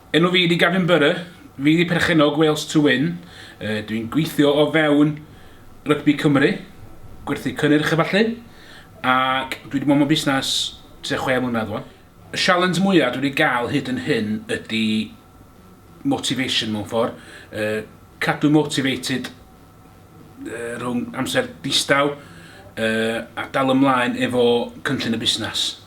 Enw fi di Gavin Burr, fi di perchennog Wales to Win, uh, dwi'n gweithio o fewn Rygbi Cymru, gwerthu cynnyrch a falle, ac dwi wedi bod mewn busnes tua chwe mlynedd o'n. Y sialens mwyaf dwi wedi gael hyd yn hyn ydy motivation mewn ffordd, uh, cadw motivated uh, rhwng amser distaw uh, a dal ymlaen efo cynllun y busnes.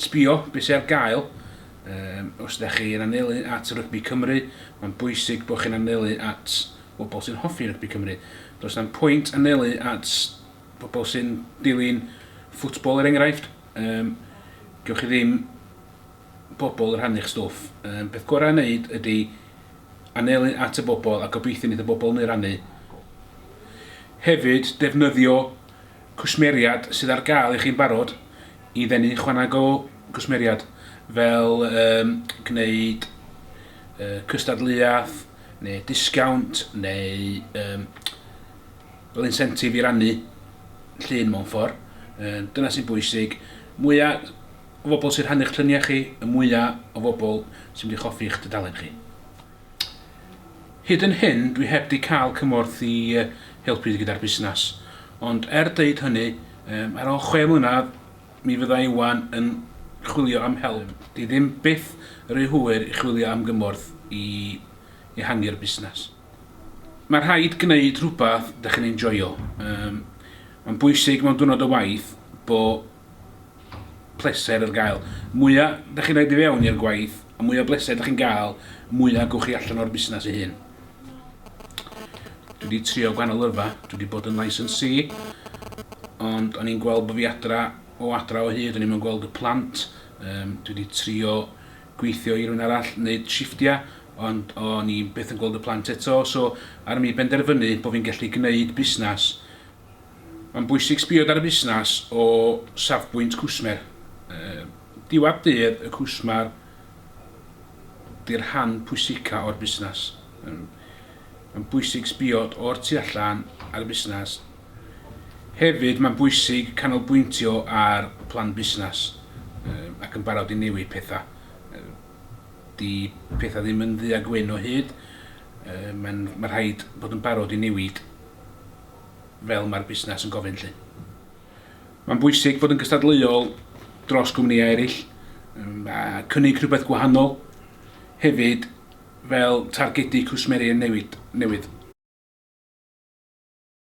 Sbio be sy ar gael, Yym, os ydych chi yn anelu at rygbi Cymru, mae'n bwysig bod chi'n anelu at bobl sy'n hoffi rygbi Cymru. Does na'm pwynt anelu at bobl sy'n dilyn ffwtbol er enghraifft, yym, gewch chi ddim bobl yn rhannu'ch stwff. Yym, peth gorau i wneud ydy anelu at y bobl a gobeithio wneith y bobl hynny rannu. Hefyd, defnyddio cwsmeriaid sydd ar gael i chi'n barod i ddenu chwaneg o gwsmeriaid fel um, gwneud uh, cystadleuaeth neu disgawnt neu um, fel incentive i rannu llun mewn ffordd. Uh, dyna sy'n bwysig. Mwyaf o bobl sy'n rhannu'ch lluniau chi, y mwyaf o bobl sy'n mynd i choffi'ch dudalen chi. Hyd yn hyn dwi heb di cael cymorth i helpu fi gyda'r busnes, ond er deud hynny, ar ôl chwe mlynedd mi fydda Iwan yn chwilio am help. Di ddim byth ry hwyr i chwilio am gymorth i ehangu'r busnes. Mae rhaid gwneud rhywbeth dych chi'n enjoio. Mae'n bwysig mewn diwrnod o waith bo pleser ar gael. Mwya da chi'n rhaid i fewn i'r gwaith, y mwya bleser da chi'n gael, mwya gwch chi allan o'r busnes ei hun. Dwi wedi trio gwahanol lyrfa, dwi wedi bod yn licensee, ond o'n i'n gweld bod fi adra o adra o hyd, o'n i'n gweld y plant, um, dwi wedi trio gweithio i rhywun arall, wneud shifftiau, ond o'n i'n beth yn gweld y plant eto, so ar mi benderfynu bod fi'n gallu gwneud busnes Mae'n bwysig sbio dan y busnas o safbwynt cwsmer. Diwadd dydd y cwsmer di'r rhan pwysica o'r busnas. Mae'n bwysig sbio o'r tu allan ar y busnas. Hefyd mae'n bwysig canolbwyntio ar plan busnas ac yn barod i newid pethau. Di pethau ddim yn ddu a gwyn o hyd, mae rhaid bod yn barod i newid. fel mae'r busnes yn gofyn 'lly. Mae'n bwysig fod yn gystadleuol dros gwmnïau eraill a cynnig rhywbeth gwahanol hefyd fel targedu cwsmeriaid newydd.